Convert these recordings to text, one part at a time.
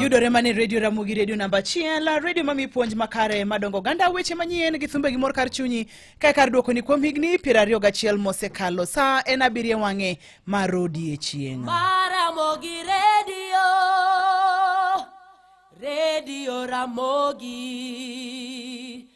yudore mane redio ramogi redio namba achiel redio mami puonj makare madongo ganda weche manyien gi thumbe gi mor kar chunyi kae kar dwokoni kuom higni piero ariyo gachiel mosekalo sa en abiriyo wang'e mar odiechieng' Maramogi Radio, Radio Ramogi.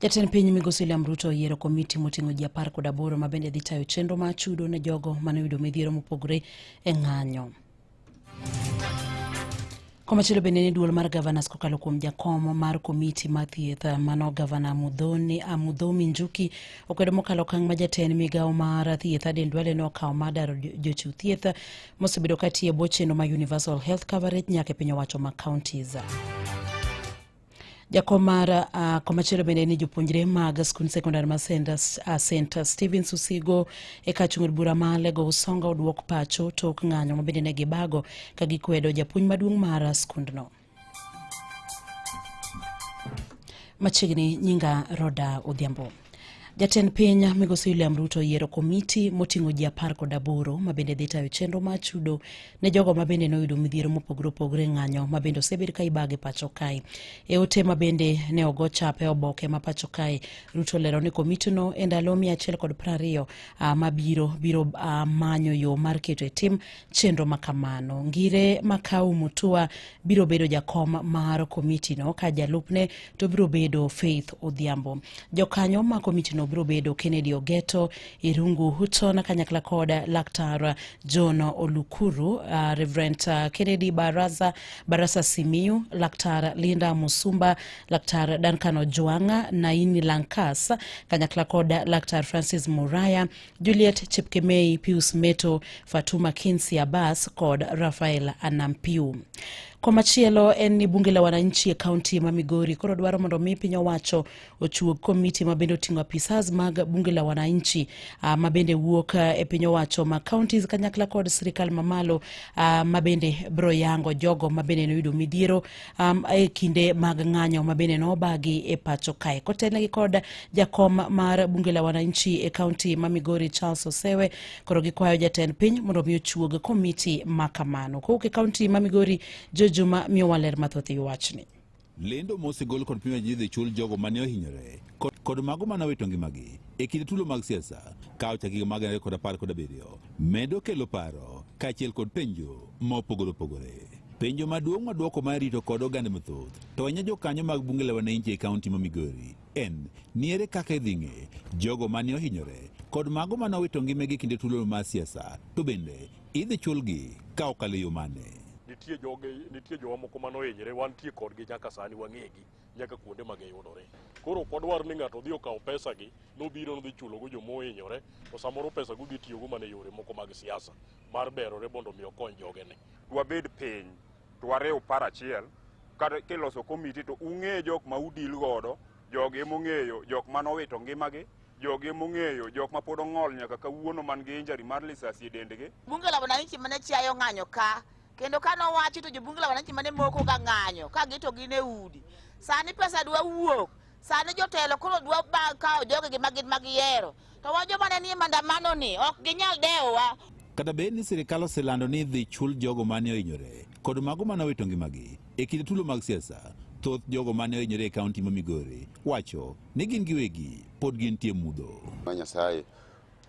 Jatend piny migosi William Ruto oyiero komiti moting'o ji apar kod aboro ma bende dhi tayo chenro ma chudo ne jogo mane oyudo midhiero mopogore e ng'anyo. Komachielo bende ni duol mar gavanas kokalo kuom jakom mar komiti ma thieth mano gavana Mudhomi Njuki okwedo mokalo okang' ma jatend migawo mar thieth Aden Duale ne okawo mar daro jochiw thieth mosebedo ka tiyo e bwo chenro ma Universal Health Coverage nyaka e piny owacho ma counties. jakom mar uh, ah, komachielo bende ni jopuonjre mag skund sekondar ma ah, center uh, stephen susigo e ka chung'od bura ma lego usonga oduok pacho tok ng'anyo ma bende ne gibago ka gikwedo japuonj maduong' mar skundno machiegni nyinga roda odhiambo Jatend piny Migosi William Ruto oyiero komiti moting'o ji apar kod aboro ma bende dhi tayo chenro mar chudo ne jogo ma bende noyudo midhiero mopogore opogore ng'anyo ma bende osebed ka ibage pacho kae. E ote ma bende ne ogo chap e oboke ma pacho kae, Ruto lero ni komitino e ndalo mia achiel kod prariyo ah, mabiro biro ah, manyo yo mar keto e tim chenro ma kamano. Ngire Makau Mutua biro bedo jakom mar komitino ka jalupne to biro bedo Faith Odhiambo. Jokanyo ma komitino biro bedo Kennedy Ogeto, Irungu Hutton kanyakla kod Laktar John Olukuru, uh, Reverend uh, Kennedy Baraza, Barasa Simiyu, Laktar Linda Musumba, Laktar Duncan Ojwanga, Naini Lankas kanyakla kod Laktar Francis Muraya, Juliet Chepkemei, Pius Meto, Fatuma Kinsi Abbas kod Rafael Anampiu. Komachielo en ni bunge la wananchi e kaunti ma Migori koro dwaro mondo mi piny owacho ochuog komiti ma bende oting'o apisas mag bunge la wananchi uh, ma bende wuok ah, e piny owacho ma counties kanyakla kod sirikal mamalo uh, ma bende bro yango jogo ma bende noyudo midhiero um, e kinde mag ng'anyo ma bende nobagi e pacho kae kotelnegi kod jakom mar bunge la wananchi e kaunti ma Migori Charles Osewe koro gikwayo jatend piny mondo mi ochuog komiti ma kamano kowuok e kaunti ma Migori Jojuma miyo waler mathoth e wachni lendo mosegol kod pima ji dhi chul jogo mane ohinyore kod mago mane owito ngimagi e kinde tulo mag siasa ka ochak higa mag ariyo kod apar kod abiriyo medo kelo paro kaachiel kod penjo mopogore opogore. Penjo maduong' ma dwoko ma rito kod oganda mathoth to ahinya jokanyo mag bunge la wananchi e kaunti ma Migori en ni ere kaka idhi ng'e jogo mane ohinyore kod mago mane owito ngimagi kinde tulo mar siasa to bende idhi chulgi ka okalo e yo mane. nitie joge nitie jowa moko mane ohinyre wantie kodgi nyaka sani wang'egi nyaka kuonde ma giyudore koro ok wadwar ni ng'ato odhi okaw pesagi nobiro nodhi chulogo joma ohinyore to samoro pesago dhi tiyogo mana e yore moko mag siasa mar berore mondo omi okony jogene. Dwabed piny to wariw par achiel kiloso komiti to ung'e jok ma udil godo jogi emong'eyo jok ma nowito ngimagi jogi emong'eyo jok ma pod ong'ol nyaka kawuono man gi injari mar lisasi e dendgi. Bunge la wananchi mane chiayo ng'anyo ka kendo ka nowachi to jobunge la wananchi mane moko ga ng'anyo ka gito gin e udi sani pesa dwa wuok Sani jotelo koro dwa ba- kawo jogegi ma gin mag yiero, to wa joma ne nie mandamanoni ok ginyal dewowa. Kata bed ni sirkal oselando ni idhi chul jogo mane ohinyore kod mago mane owito ngimagi e kinde tulo mag siasa, thoth jogo mane ohinyore e kaunti ma Migori wacho ni gin giwegi pod gintie mudho. ma Nyasaye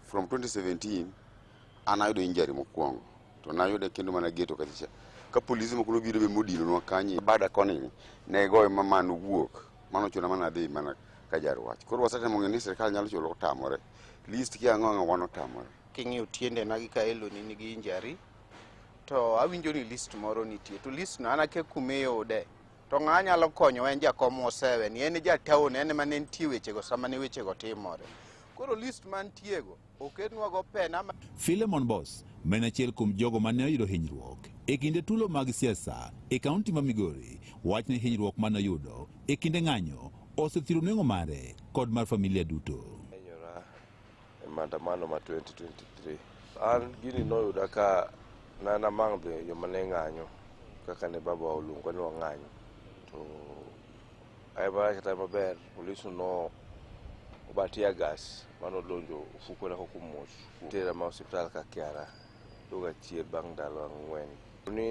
from 2017 an ayudo injury mokwongo to nayude kendo mana geto kachacha ka polise moko nobiro be modilonwa kanyo bada koni ne goyo ma man wuok Mano chuna mana dhi mana ka jar wach. Koro wasetemo ng'e ni sirkal nyalo chulo otamore. List kia ang'o ang'o wan otamore. King'iyo tiende na gi kaelo ni nigi injury to awinjo ni list moro nitie to list no an akia kuma iyude to ng'a nyalo konyowa en jakom osewe ni en e jatown en ema ne nitie wechego sama ne wechego timore koro list mantiego Okednwago pena ma... Philemon Boss ma en achiel kuom jogo ma ne oyudo hinyruok e kinde tulo mag siasa e kaunti ma Migori wach ni hinyruok ma noyudo e kinde ng'anyo osethiro nengo mare kod mar familia duto. Enyora e maandamano ma 2023 an gini noyuda ka nana mang' dhi joma ne ng'anyo kaka ne baba oluongo ni wang'anyo to Ayemara kata maber polis no oba tear gas mane odonjo ofukona kok omuoch tera ma osiptal ka kiara duoga chier bang' ndalo ang'wen ni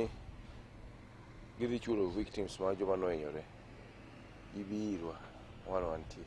gidhi chulo victims ma joma nohinyore gibi irwa wan wantie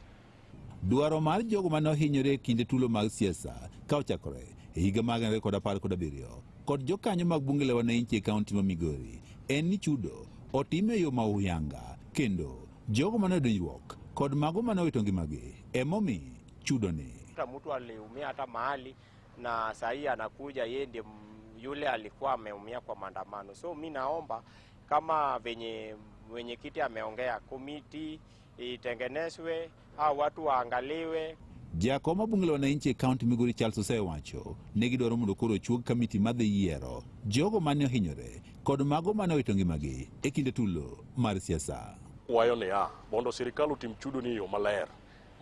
Dwaro mar jogo ma nohinyore e kinde tulo mag siasa ka ochakore e higa mag 2017 kod jokanyo mag bunge la wananchi e kaunti ma Migori en ni chudo otim e yo ma uyanga kendo jogo mane odonjruok kod mago mane owito ngimagi emomi chudoni. Hata mtu aliumia hata mahali na sahii anakuja yeye ndiye m- yule alikuwa ameumia kwa maandamano. So mi naomba kama venye mwenyekiti ameongea komiti itengenezwe au watu waangaliwe. Jakom ma bunge la wananchi e kaunti Migori Charles osewacho ni gidwaro mondo koro ochuog kamiti madhi yiero jogo mane ohinyore kod mago mane owito ngimagi e kinde tulo mar siasa. Wayo niya mondo sirikal otim chudo ni e yo maler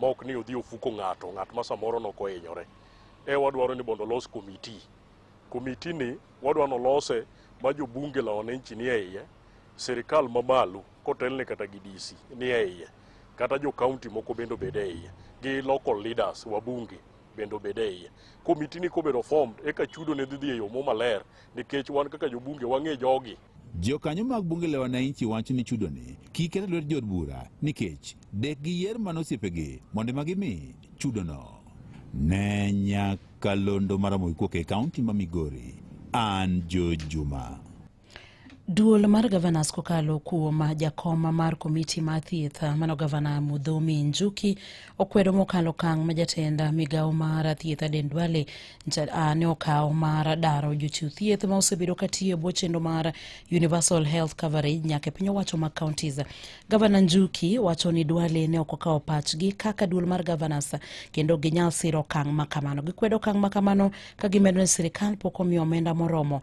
ma ok ni odhi ofuko ng'ato ng'at ma samoro nok ohinyore. E wadwaro ni mondo olos komiti. Komiti ni wadwa nolose ma jobunge la wananchi ni e iye, sirikal mamalo kotelne kata gi DC ni e iye kata jo county moko bende obed e iye gi local leaders wabunge bende obed e iye komiti ni kobedo formed eka chudo ne dhi dhi e yo mo maler nikech wan kaka jobunge wang'e jogi Jokanyo mag bunge la wananchi wacho ni chudoni kik ket e lwet jood bura nikech dek gi yer mana osiepegi mondo ema gimi chudono. Ne nyakalondo maramogi kuok e kaunti ma Migori, an Joe Juma. Duol mar gavanas kokalo kuom jakom mar komiti mar thieth mano gavana Mudhomi Njuki okwedo mokalo kang' ma jatend migawo mar thieth Aden Duale ne okawo mar daro jochiw thieth ma osebedo ka tiyo e bwo chenro mar Universal Health Coverage nyaka e piny owacho mag counties. Gavana Njuki wacho ni Duale ne ok okawo pachgi kaka duol mar gavanas kendo ginyal siro okang' ma kamano. Gikwedo okang' ma kamano ka gimedo ni sirikal pok omiyo omenda moromo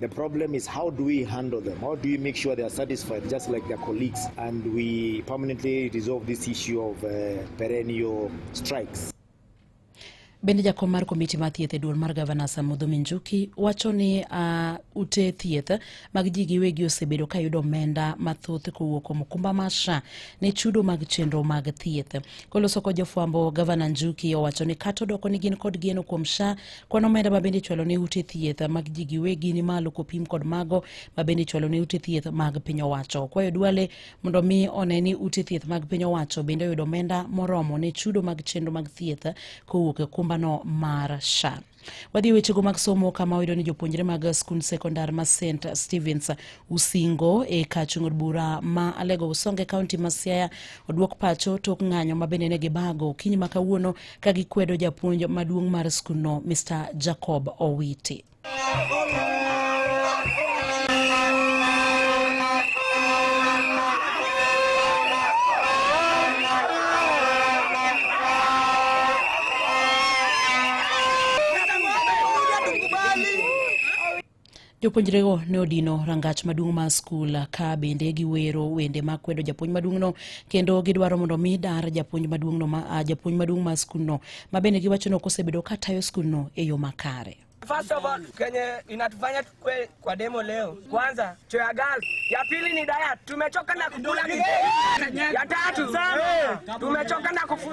The problem is how do we handle them? How do we make sure they are satisfied just like their colleagues and we permanently resolve this issue of uh, perennial strikes? Bende jakom mar komiti mar thieth e duol mar gavana Samudho Minjuki wacho ni uh, ute thieth mag ji giwegi osebedo ka yudo omenda mathoth kowuok kuom okumba mar SHA ne chudo mag chenro mag thieth. Koloso kod jofwambo, gavana Njuki owacho ni kata odoko ni gin kod geno kuom SHA Kwan omenda ma bende ichwalo ne ute thieth mag ji giwegi ni malo kopim kod mago ma bende ichwalo ne ute thieth mag piny owacho. Kwayo Duale mondo omi one ni ute thieth mag piny owacho bende oyudo omenda moromo ne chudo mag chenro mag thieth kowuok e kumbano mar SHA. Wadhi e wechego mag somo kama oyudo ni jopuonjre mag skund sekondar ma St Stevens Usingo e kar chung' od bura ma Alego Usonge kaunti ma Siaya oduok pacho tok ng'anyo ma bende ne gibago okinyi ma kawuono ka gikwedo japuonj maduong' mar skundno Mr. Jacob Owiti. Jopuonjrego ne odino rangach maduong' mar skul ka bende giwero wende ma kwedo japuonj maduong'no kendo gidwaro mondo mi dar japuonj maduong'no ma ah, japuonj maduong' mar skundno ma bende giwacho ni ok osebedo ka tayo skundno e yo makare. First of all, kenye inatufanya tukwe kwa demo leo, kwanza cho ya gal, ya pili ni diet. Tumechoka na kukula, ya tatu tumechoka na kufu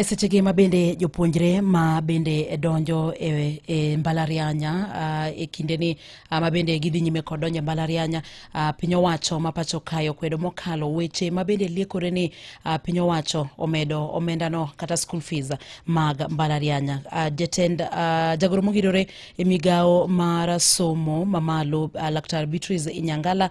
e sechegi ma bende jopuonjre ma bende donjo e, e mbalarianya uh, e kindeni uh, ma bende gidhi nyime kod donjo e mbalarianya uh, piny owacho ma pacho kae okwedo mokalo weche ma bende liekore ni uh, piny owacho omedo omendano kata school fees mag mbalarianya uh, jatend uh, jagoro mogidore e migawo mar somo mamalo uh, laktar beatrice inyangala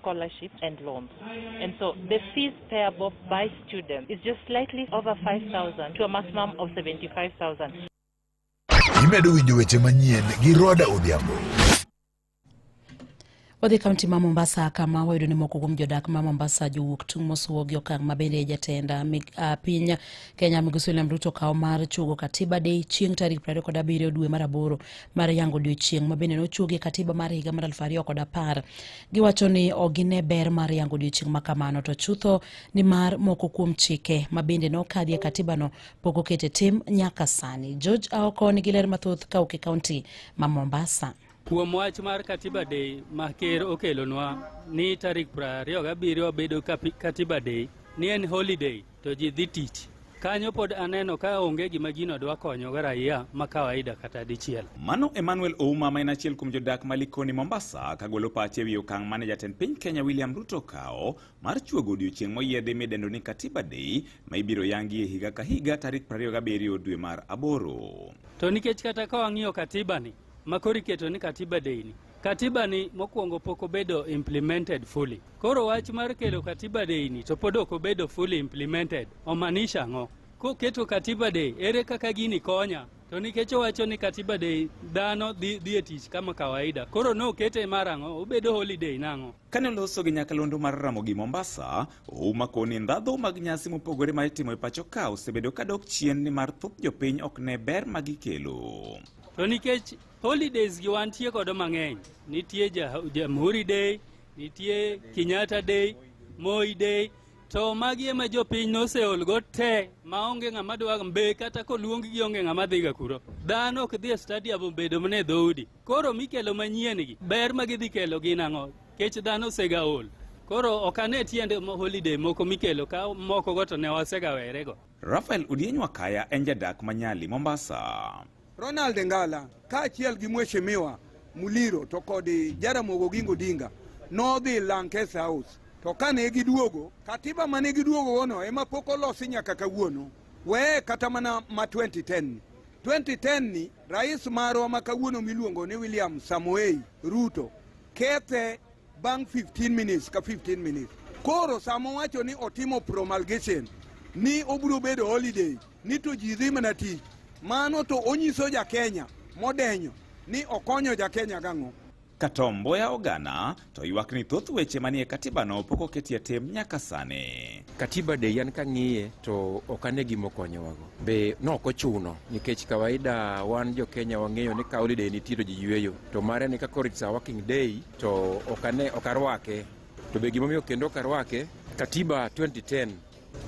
scholarships and loans. And so the fees payable by students is just slightly over 5,000 to a maximum of 75,000. Imedo winjo weche manyien gi Roda Odhiambo. Wadhi kaunti ma Mombasa kama wayudo ni moko kuom jodak ma Mombasa jowuok tung' mosuo gi okang' ma bende jatend ah, ah, piny Kenya Migosi William Ruto kawo mar chugo Katiba Day chieng' tarik 27 dwe mar aboro mar yango odiechieng' ma bende nochuogie Katiba mar higa mar 2010. Giwacho ni ok gine ber mar yango odiechieng' ma kamano to chutho ni mar moko kuom chike ma bende nokadhi e katibano pok okete tim nyaka sani. George Aoko nigi ler mathoth ka ok e kaunti ma Mombasa. Kuom wach mar Katiba Day ma ker okelonwa ni tarik 27 bedo Katiba Day ni en holiday To ji dhi tich. Kanyo pod aneno ka onge gima jino dwa konyogo raia ma kawaida kata dichiel. Mano Emmanuel Ouma ma en achiel kuom jodak ma Likoni Mombasa kagolo pache ewi okang' mane jatend piny Kenya William Ruto kawo mar chuogo odiochieng' moyiedhi midendo ni Katiba Day ma ibiro yangi e higa ka higa tarik 27 dwe mar aboro. To nikech kata ka wang'iyo katiba ni Makori keto ni katiba deni katiba ni mokwongo pok obedo implemented fully. Koro wach mar kelo katiba day ni to pod ok obedo fully implemented omanisha ang'o? Koketo katiba day ere kaka gini konya? To nikech owacho ni katiba day dhano dhi, dhi e tich kama kawaida, koro ne okete mar ang'o? Obedo holiday nang'o? Kane oloso gi nyakalondo mar Ramogi Mombasa, Ouma koni ndhadho mag nyasi mopogore ma itimo e pacho ka osebedo ka dok chien nimar thoth jopiny ok ne ber ma gikelo. To nikech holidays gi wantie kodo mang'eny, nitie Jamhuri Day, nitie Kenyatta Day, Moi Day, to magi ema jopiny noseolgo te maonge ng'ama dwa mbe kata koluong gi onge ng'ama dhiga kuro dhano ok dhi e stadium obedo mne dhoudi koro mikelo manyien gi ber ma gidhi kelo gin ang'o kech dhano osega ol koro ok ane tiende holiday moko mikelo ka moko go to ne wasega werego Rafael Udieny Wakaya en jadak ma Nyali, Mombasa. Ronald Ngala kaachiel gi Mheshimiwa Muliro to kod Jaramogi Oginga Odinga nodhi Lankes House to kane giduogo katiba mane giduogogono ema pok olosi nyaka kawuono weye kata mana ma 2010 2010 ni rais marwa ma kawuono miluongo ni William Samoei Ruto kethe bang' 15 minutes ka 15 minutes. Koro samo wacho ni otimo promulgation ni obiro bedo holiday ni to ji dhi mana tich, mano to onyiso ja Kenya modenyo ni okonyo ja Kenya gang'o? Katomboya ogana to ywak ni thoth weche manie katibano pok oketie tim nyaka sani. Katiba de yan kang'iye to ok ane gima okonyowago be nok ochuno nikech kawaida wan jo Kenya wang'eyo ni ka holiday nitie to ji yueyo to mare ni kaka it's a working day to ok ane ok arwake to be gimomiyo kendo ok arwake katiba 2010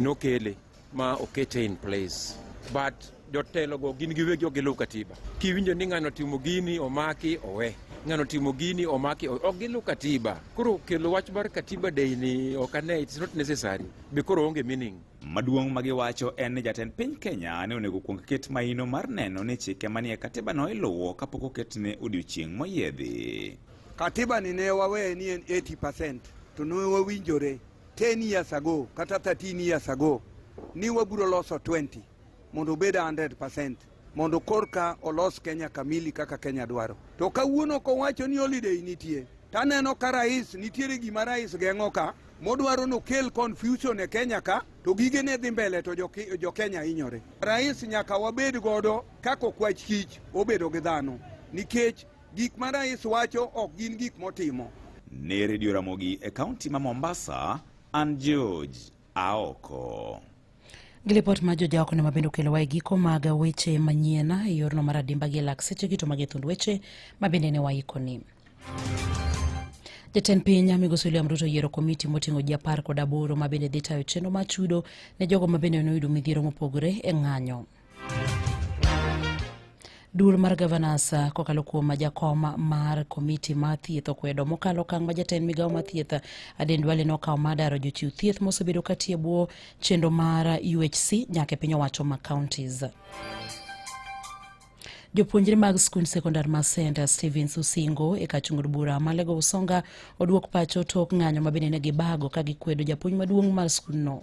nokele ma okete in place but jotelogo gin giwegi ok giluw katiba. Kiwinjo ni ng'ano timo gini omaki owe, ng'ano timo gini omaki owe, ok giluw katiba. Koro kelo wach mar katiba day ni ok ane, it's not necessary be koro onge meaning. Maduong' ma giwacho en ni jatend piny Kenya ne onego kuong ket mahino mar neno ni chike manie katiba no iluwo kapok oket ne odiochieng' moyiedhi. Katiba ni ne waweye ni en 80% to ne wawinjore 10 years ago kata 13 years ago ni wabiro loso 20 mondo obed 100% mondo korka olos Kenya kamili kaka Kenya dwaro. To kawuono kowacho ni holiday nitie, taneno ka rais nitiere gima rais geng'o ka modwaro nokel confusion e Kenya ka to gige ne dhi mbele to jo Kenya hinyore. Rais nyaka wabed godo kako kwach kich obedo gi dhano nikech gik ma rais wacho ok gin gik motimo. Ne redio Ramogi e kaunti ma Mombasa, an George Aoko. Gi lipot ma jojaoko ne mabende okelowa e giko mag weche manyien e yorno mar adimba gi lak seche gito mag e thund weche mabende ne waikoni. Jatend piny Migosi William Ruto oyiero komiti moting'o ji apar kod aboro mabende dhi tayo chenro mar chudo ne jogo mabende ne oyudo midhiero mopogore e ng'anyo. Duol mar gavanas uh, kokalo kuom jakom mar komiti mar thieth okwedo mokalo okang' ma jatend migawo mar thieth uh, Aden Duale nokawo mar daro jochiw thieth mosebedo katiyo e bwo chenro mar UHC uh, nyaka e piny owacho ma counties. Jopuonjre mag skund sekondar ma St Stevens Usingo e kachungur bura ma Lego Usonga oduok pacho tok ng'anyo ma bende ne gibago ka gikwedo japuonj maduong' mar skundno.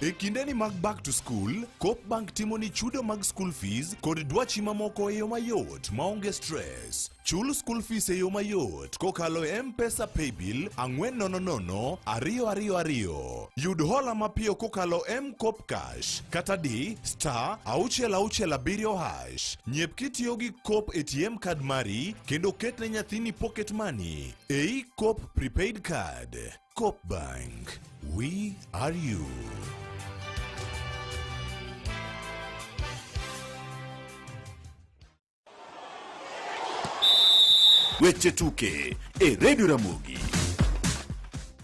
E kindeni mag back to school, Coop Bank timo ni chudo mag school fees kod dwachi mamoko e yo mayot maonge stress. Chul school fees e yo mayot kokalo e M-Pesa Paybill 4000222. Yud hola mapiyo kokalo M-Coop Cash kata di star 667 hash. Nyep kitiyo gi Coop ATM card mari kendo ketne nyathini pocket money ei Coop prepaid card. Coop Bank, we are you. Weche tuke e Radio Ramogi.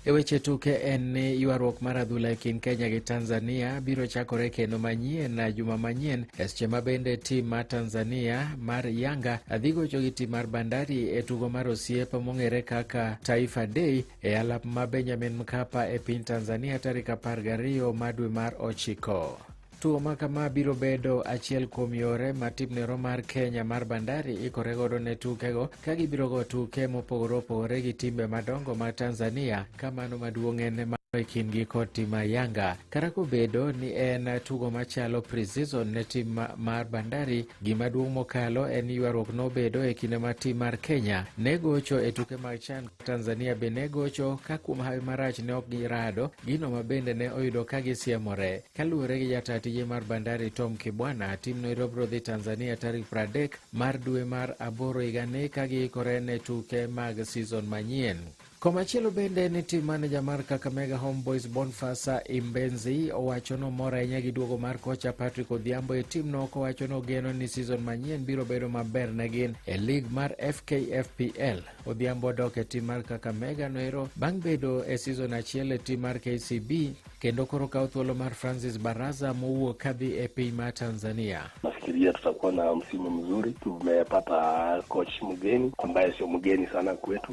E weche tuke en ni ywaruok mar adhula e kind Kenya gi Tanzania biro chakore kendo manyien na juma manyien, eseche ma bende tim ma Tanzania mar Yanga dhi gocho gi tim mar Bandari e tugo mar osiep mong'ere kaka Taifa Day e alap ma Benjamin Mkapa e piny Tanzania tarik 12 ma dwe mar ochiko. Tugo ma kama biro bedo achiel kuom yore ma tim nero mar Kenya mar Bandari ikore godo ne tukego ka gibiro go tuke mopogore opogore gi timbe madongo ma Tanzania ka mano maduong' en e kindgi kod tim mar Yanga. Kata kobedo ni en tugo machalo pre-season ne tim mar Bandari, Gima duong' mokalo en ni ywaruok nobedo e kinde ma tim mar Kenya ne gocho e tuke mag CHAN. Tanzania be ne gocho ka kuom hawi marach ne ok girado, gino ma bende ne oyudo ka gisiemore. Kaluwore gi jataa tije mar Bandari Tom Kibwana, timno irobro dhi Tanzania tarik 30 mar dwe mar aboro higani ka giikore ne tuke mag season manyien. Komachielo bende ni tim maneja mar Kakamega Homeboys Bonfasa Imbenzi owacho ni omor ahinya gi duogo mar kocha Patrick Odhiambo e timno kowacho ni ogeno ni season manyien biro bedo maber ne gin e lig mar FKFPL. Odhiambo odok e tim mar Kakamega noero bang' bedo e season achiel e tim mar KCB kendo koro kawo thuolo mar Francis Baraza mowuok kadhi e piny mar Tanzania. Nafikiria tutakuwa na msimu mzuri. Tumepata coach mgeni ambaye sio mgeni sana kwetu,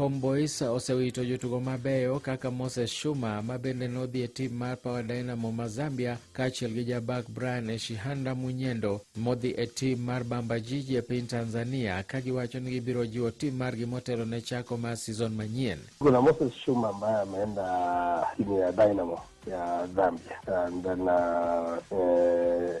Homeboys osewito jotugo mabeyo kaka Moses Shuma ma bende nodhi e tim mar Power Dynamo ma Zambia kaachiel gi jabak Brian Eshihanda Munyendo modhi e tim mar Bamba Jiji e piny Tanzania ka giwacho ni gibiro jiwo tim margi motelo ne chako mar season manyien. Kuna Moses Shuma ambaye ameenda timu ya Dynamo ya Zambia and then uh, eh,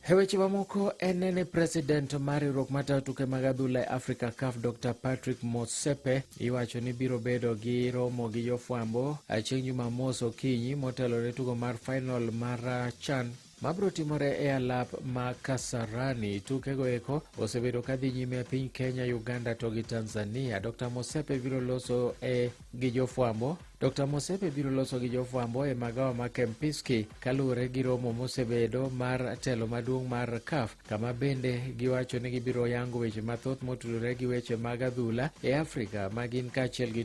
E weche mamoko, en ni president mar riwruok matayo tuke mag adhula e Africa CAF Dr Patrick Motsepe iwacho ni biro bedo gi romo gi jofwambo chieng' Jumamos okinyi motelo ne tugo mar final mar CHAN mabiro timore e alap ma Kasarani. Tukego eko osebedo ka dhi nyime e piny Kenya, Uganda to gi Tanzania. Dr Mosepe biro loso e gi jofwambo Dr. Mosepe biro loso gi jofwambo e magawa ma Kempinski kaluwore gi romo mosebedo mar telo maduong' mar CAF kama bende giwacho ni gibiro yango weche mathoth motudore gi weche mag adhula e Afrika ma gin kaachiel gi